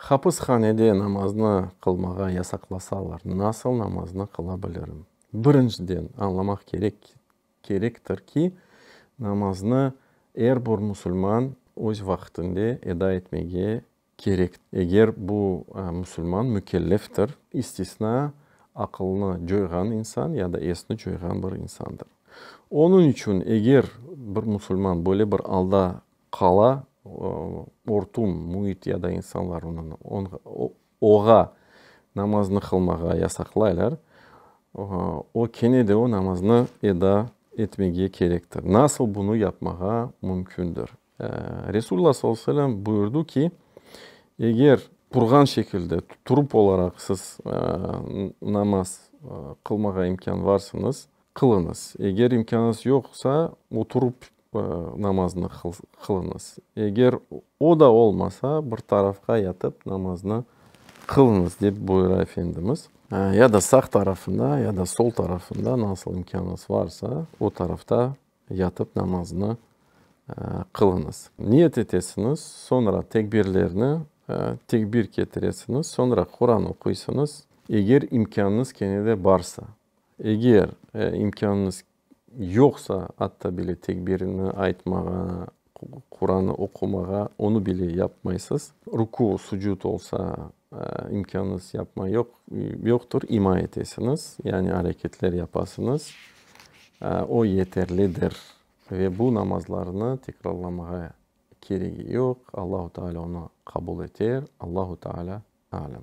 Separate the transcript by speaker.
Speaker 1: Hapishanede namaznı qılmağa yasaqlasalar, nasıl namaznı qıla bilirim? Birinciden, añlamaq kerek ki, kerektir ki, namaznı er bir musulman öz vaqtinde eda etmege kerek. Eger bu musulman mükelleftir, istisna aqılnı coyğan insan ya da esni coyğan bir insandır. Onıñ içün, eger bir musulman böyle bir alda Qala, ortum, müit ya da insanlar oña namaznı qılmağa yasaqlaylar, o, kene de o namaznı eda etmege kerektir. Nasıl bunı yapmağa mümkündir? Resulullah sallallahu aleyhi ve selem buyurdı ki, eger turğan şekilde, turıp olaraq siz namaz qılmağa imkânı varsıñız, Qılıñız. Eger imkânıñız yoqsa, oturıp namaznı qılıñız. Eger o da olmasa, bir tarafqa yatıp namaznı qılıñız, dep buyura Efendimiz. Ya da sağ tarafında, ya da sol tarafında, nasıl imkânıñız varsa, o tarafta yatıp namaznı qılıñız. Niyet etesiñiz, soñra tekbirlerni, tekbir ketiresiñiz, soñra Quran oquysıñız, eger imkânıñız kene de barsa. Eger imkânıñız yoqsa, atta bile tekbirini aytmağa, Quranı oqumağa, onı bile yapmaysız. Ruku, sucud olsa, imkânıñız yapma yoq, yoqtır, ima etesiñiz, yani areketler yapasıñız, o yeterlidir. Ve bu namazlarnı tekrarlamağa keregi yoq, Allahu Teala onı qabul eter, Allahu Teala alem.